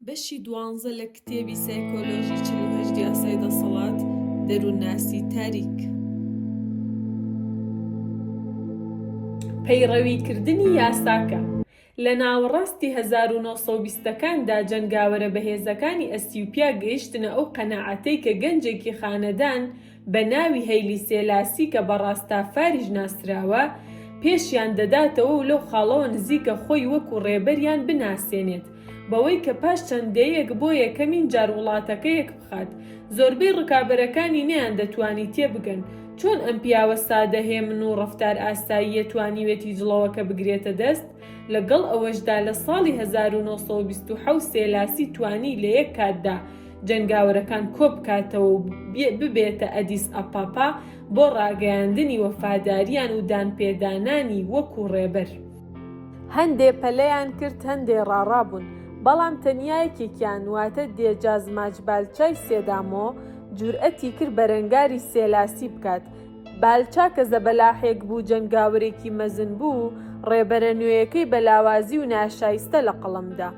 بەشی دوانزە لە کتێبی سایکۆلۆژی چل و هەشت یاسای دەسەڵات، دەروونناسی تاریک. پەیڕەویکردنی یاساکە لە ناوەڕاستی هەزار و نۆ سەد و بیستەکاندا جەنگاوەرە بەهێزەکانی ئەسیوپیا گەیشتنە ئەو قەناعەتەی کە گەنجێکی خانەدان بە ناوی هەیلی سێلاسی کە بە ڕاستافاریش ناسراوە، پێشیان دەداتەوە و لەو خاڵەوە نزیکە خۆی وەکو ڕێبەریان بناسێنێت، بەوەی کە پاش چەند دەیەیەک بۆ یەکەمین جار وڵاتەکە یەکبخات. زۆربەی ڕکابەرەکانی نەیاندەتوانی تێبگەن، چۆن ئەم پیاوە سادە هێمن و ڕەفتار ئاساییە توانیوێتی جڵەوەکە بگرێتە دەست، لەگەڵ ئەوەشدا لە ساڵی هەزار و نۆ سەد و بیست و حەوت سێلاسی توانی لە یەک کاتدا جەنگاوەرەکان کۆبکاتەوە و ببێتە ئەدیس ئەپاپا بۆ ڕاگەیاندنی وەفاداریان و دانپێدانانی وەکو ڕێبەر. هەندێ پەلەیان کرد هەندێ ڕاڕابوون، بەڵام تەنیا یەکێکیان واتە دێجاز ماچ بالچای سێدامۆ جورئەتی کرد بەرەنگاری سێلاسی بکات. بالچا کە زەبەلاحێک بوو جەنگاوەرێکی مەزن بوو، ڕێبەرە نوێیەکەی بە لاوازی و ناشایستە لەقەڵەمدا.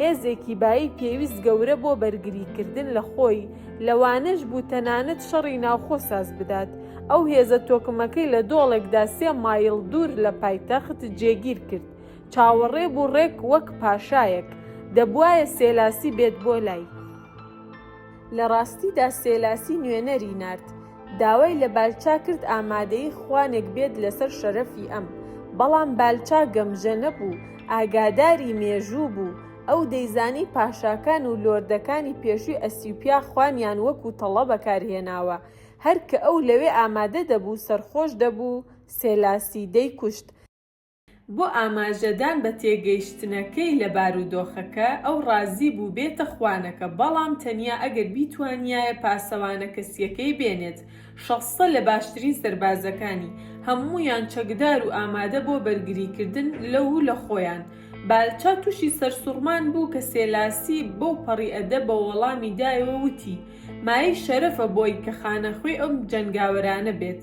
هێزێکی بایی پێویست گەورە بۆ بەرگریکردن لە خۆی، لەوانەش بوو تەنانەت شەڕی ناوخۆ ساز بدات. ئەو هێزە تۆکمەکەی لە دۆڵێکدا سێ مایڵ دوور لە پایتەخت جێگیر کرد. چاوەڕێ بوو ڕێک وەک پاشایەک، دەبوایە سێلاسی بێت بۆ لای. لە ڕاستیدا سێلاسی نوێنەری نارد داوای لە بالچا کرد ئامادەی خوانێک بێت لەسەر شەرەفی ئەم، بەڵام بالچا گەمژە نەبوو، ئاگاداری مێژوو بوو، ئەو دەیزانی پاشاکان و لۆردەکانی پێشووی ئەسیوپیا خوانیان وەکو تەڵە بەکارهێناوە، هەر کە ئەو لەوێ ئامادە دەبوو سەرخۆش دەبوو، سێلاسی دەیکوشت. بۆ ئاماژەدان بە تێگەیشتنەکەی لە بارودۆخەکە، ئەو ڕازی بوو بێتە خوانەکە، بەڵام تەنیا ئەگەر بیتوانیایە پاسەوانە کەسییەکەی بێنێت، شەستە لە باشترین سەربازەکانی، هەموویان چەکدار و ئامادە بۆ بەرگریکردن لەو و لە خۆیان. بالچا تووشی سەرسوڕمان بوو کە سێلاسی بەو پەڕی ئەدەبەوە وەڵامی دایەوە، وتی، مایەی شەرەفە بۆی کە خانەخوێی ئەم جەنگاوەرانە بێت.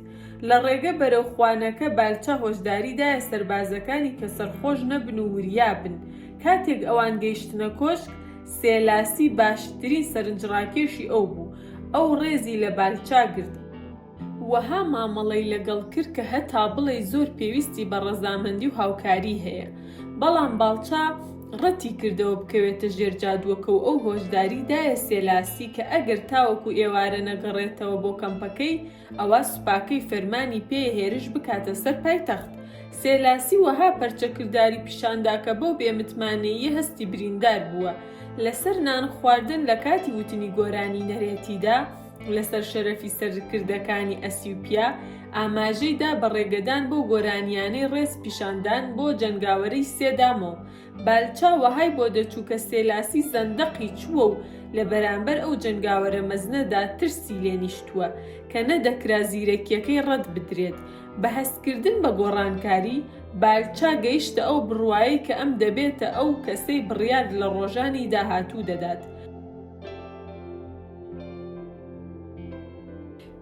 لە ڕێگە بەرەو خوانەکە بالچە هۆشداری دایە سەربازەکانی کە سەرخۆش نەبن و وریا بن. کاتێک ئەوان گەیشتنە کۆشک، سێلاسی باشترین سەرنجڕاکێشی ئەو بوو. ئەو ڕێزی لە بالچا گرت. وەها مامەڵەی لەگەڵ کرد کە هەتا بڵێی زۆر پێویستی بە ڕەزامەندی و هاوکاری هەیە، بەڵام باڵچا ڕەتی کردەوە بکەوێتە ژێر جادووەکە و ئەو هۆشداری دایە سێلاسی کە ئەگەر تاوەکو ئێوارە نەگەڕێتەوە بۆ کەمپەکەی ئەوا سوپاکەی فەرمانی پێیە هێرش بکاتە سەر پایتەخت. سێلاسی وەها پەرچە کرداری پیشان دا کە بەو بێمتمانەییە هەستی بریندار بووە لەسەر نان خواردن لە کاتی وتنی گۆرانی نەرێتیدا، لەسەر شەرەفی سەرکردەکانی ئەسیوپیا، ئاماژەی دا بە ڕێگەدان بەو گۆرانییانەی ڕێز پیشاندان بۆ جەنگاوەرەی سێدامۆ، بالچا وەهای بۆ دەچوو کە سێلاسی زەندەقی چووە و لە بەرامبەر ئەو جەنگاوەرە مەزنەدا ترسی لێ نیشتووە کە نەدەکرا زیرەکییەکەی ڕەت بدرێت. بە هەستکردن بە گۆڕانکاری، بالچا گەیشتە ئەو بڕوایەی کە ئەم دەبێتە ئەو کەسەی بڕیار لە ڕۆژانی داهاتوو دەدات.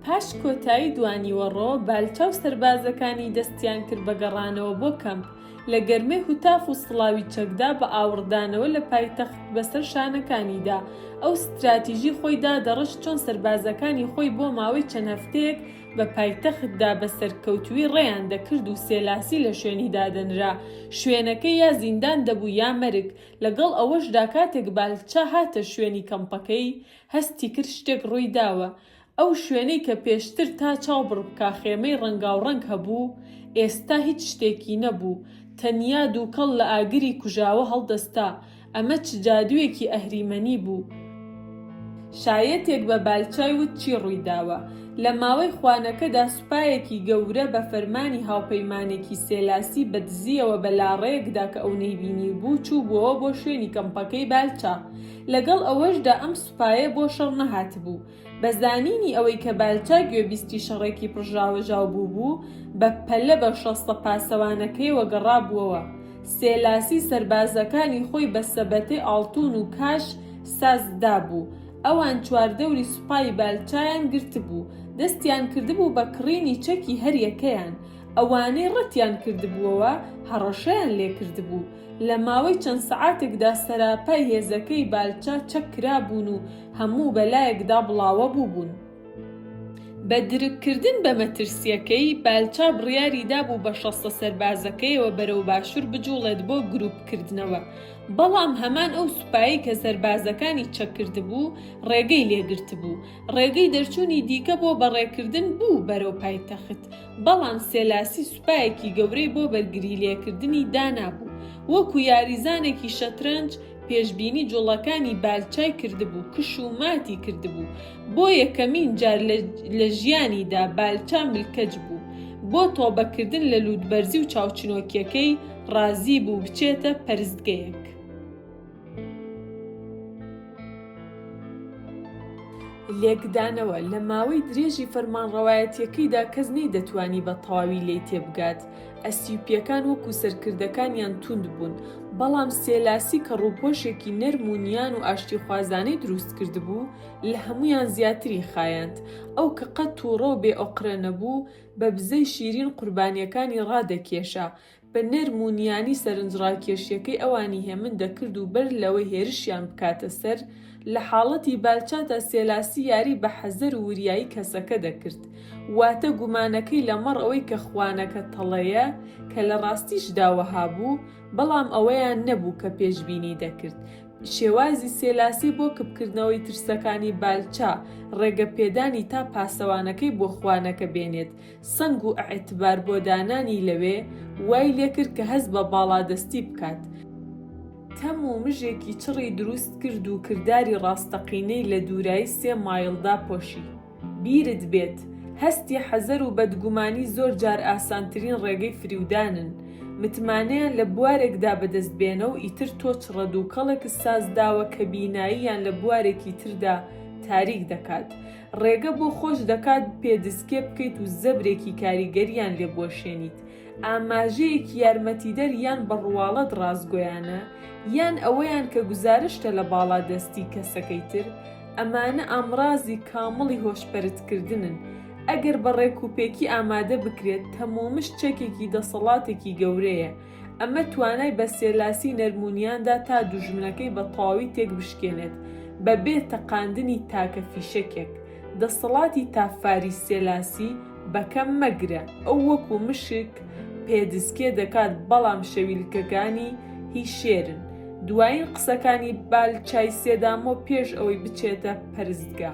پاش کۆتایی دوانیوەڕۆ، بالچاو سەربازەکانی دەستیان کرد بە گەڕانەوە بۆ کەمپ، لە گەرمەی هوتاف و سڵاوی چەکدا بە ئاوڕدانەوە لە پایتەخت بەسەر شانەکانیدا ئەو ستراتیژی خۆی دادەڕشت چۆن سەربازەکانی خۆی بۆ ماوەی چەند هەفتەیەک بە پایتەختدا بە سەرکەوتووی ڕێیان دەکرد و سێلاسی لە شوێنی دادەنرا شوێنەکەی یا زیندان دەبوو یا مەرگ لەگەڵ ئەوەشدا کاتێک بالچا هاتە شوێنی کەمپەکەی، هەستی کرد شتێک ڕووی داوە، ئەو شوێنەی کە پێشتر تا چاو بڕ بکا خێمەی ڕەنگاوڕەنگ هەبوو، ئێستا هیچ شتێکی نەبوو، تەنیا دووکەڵ لە ئاگری کوژاوە هەڵدەستا، ئەمە چ جادوویەکی ئەهریمەنی بوو؟ شایەتێک بە بالچای وت چی ڕووی داوە؟ لە ماوەی خوانەکەدا سوپایەکی گەورە بە فەرمانی هاوپەیمانێکی سێلاسی بە دزییەوە بە لاڕێیەکدا کە ئەو نەیبینیبوو چووبووەوە بۆ شوێنی کەمپەکەی بالچا لەگەڵ ئەوەشدا ئەم سوپایە بۆ شەڕ نەهاتبوو بە زانینی ئەوەی کە بالچا گوێبیستی شەڕێکی پڕژاوەژاو بووبوو بە پەلە بە شەستە پاسەوانەکەیەوە گەڕابووەوە سێلاسی سەربازەکانی خۆی بە سەبەتەی ئاڵتوون و کاش ساز دابوو ئەوان چواردەوری سوپای بالچایان گرتبوو، دەستیان کردبوو بە کڕینی چەکی هەریەکەیان، ئەوانەی ڕەتیان کردبووەوە هەڕەشەیان لێکردبوو، لە ماوەی چەند سەعاتێکدا سەراپای هێزەکەی بالچا چەک کرابوون و هەموو بەلایەکدا بڵاوەبووبوون. بە درککردن بە مەترسییەکەی، بالچا بڕیاری دابوو بە شەستە سەربازەکەیەوە بەرەو باشوور بجووڵێت بۆ گرووپکردنەوە، بەڵام هەمان ئەو سوپایەی کە سەربازەکانی چەک کردبوو، ڕێگەی لێ گرتبوو. ڕێگەی دەرچوونی دیکە بۆ بەڕێکردن بوو بەرەو پایتەخت، بەڵام سێلاسی سوپایەکی گەورەی بۆ بەرگریلێکردنی دانابوو، وەکو یاریزانێکی شەترەنج، پێشبینی جوڵەکانی بالچای کردبوو کش و ماتی کردبوو بۆ یەکەمین جار لە ژیانیدا بالچا ملکەچ بوو بۆ تۆبەکردن لە لووتبەرزی و چاوچنۆکیەکەی ڕازی بوو بچێتە پەرستگەیەک. لێکدانەوە، لە ماوەی درێژی فەرمانڕەوایەتیەکەیدا کەس نەیدەتوانی بە تەواوی لێی تێبگات، ئەسیوپییەکان وەکو سەرکردەکانیان توند بوون، بەڵام سێلاسی کە ڕووپۆشێکی نەرم و نیان و ئاشتیخوازانەی دروست کردبوو، لە هەموویان زیاتری خایاند. ئەو کە قەت تووڕە و بێ ئۆقرە نەبوو، بە بزەی شیرین قوربانییەکانی ڕادەکێشا، بە نەرم و نیانی سەرنجڕاکێشییەکەی ئەوانی هێمن دەکرد و بەر لەوەی هێرشیان بکاتە سەر، لە حاڵەتی بالچاتا سێلاسی یاری بە حەزەر و وریایی کەسەکە دەکرد، واتە گومانەکەی لەمەڕ ئەوەی کە خوانەکە تەڵەیە، کە لە ڕاستیشدا وەها بوو، بەڵام ئەوەیان نەبوو کە پێشبینی دەکرد. شێوازی سێلاسی بۆ کپکردنەوەی ترسەکانی بالچا، ڕێگەپێدانی تا پاسەوانەکەی بۆ خوانەکە بێنێت، سەنگ و ئەعتبار بۆ دانانی لەوێ وای لێکرد کە هەست بە باڵادەستی بکات، تەم و مژێکی چڕی دروست کرد و کرداری ڕاستەقینەی لە دوورایی سێ مایڵ داپۆشی. بیرت بێت، هەستی حەزەر و بەدگومانی زۆر جار ئاسانترین ڕێگەی فریودانن. متمانەیان لە بوارێکدا بەدەست بێنە و ئیتر تۆ چڕە دووکەڵێکت ساز داوە کە بیناییان لە بوارێکی تردا تاریک دەکات. ڕێگە بۆ خۆش دەکات پێدسکێ بکەیت و زەبرێکی کاریگەریان لێ بوەشێنیت، ئاماژەیەکی یارمەتیدەر یان بە ڕواڵەت ڕاستگۆیانە، یان ئەوەیان کە گوزارشتە لە باڵادەستی کەسەکەی تر، ئەمانە ئامڕازی کامڵی هۆشپەرتکردنن، ئەگەر بە ڕێکوپێکی ئامادە بکرێت، تەمومژ چەکێکی دەسەڵاتێکی گەورەیە، ئەمە توانای بە سێلاسی نەرمونیاندا تا دوژمنەکەی بە تەواوی تێک بشکێنێت بە بێ تەقاندنی تاکە فیشەکێک. دەسەڵاتی تافاری سێلاسی بە کەم مەگرە، ئەو وەکو مشک پێدسکێ دەکات بەڵام شەویلکەکانی هی شێرن. دوایین قسەکانی بالچای سێدامۆ پێش ئەوەی بچێتە پەرستگا.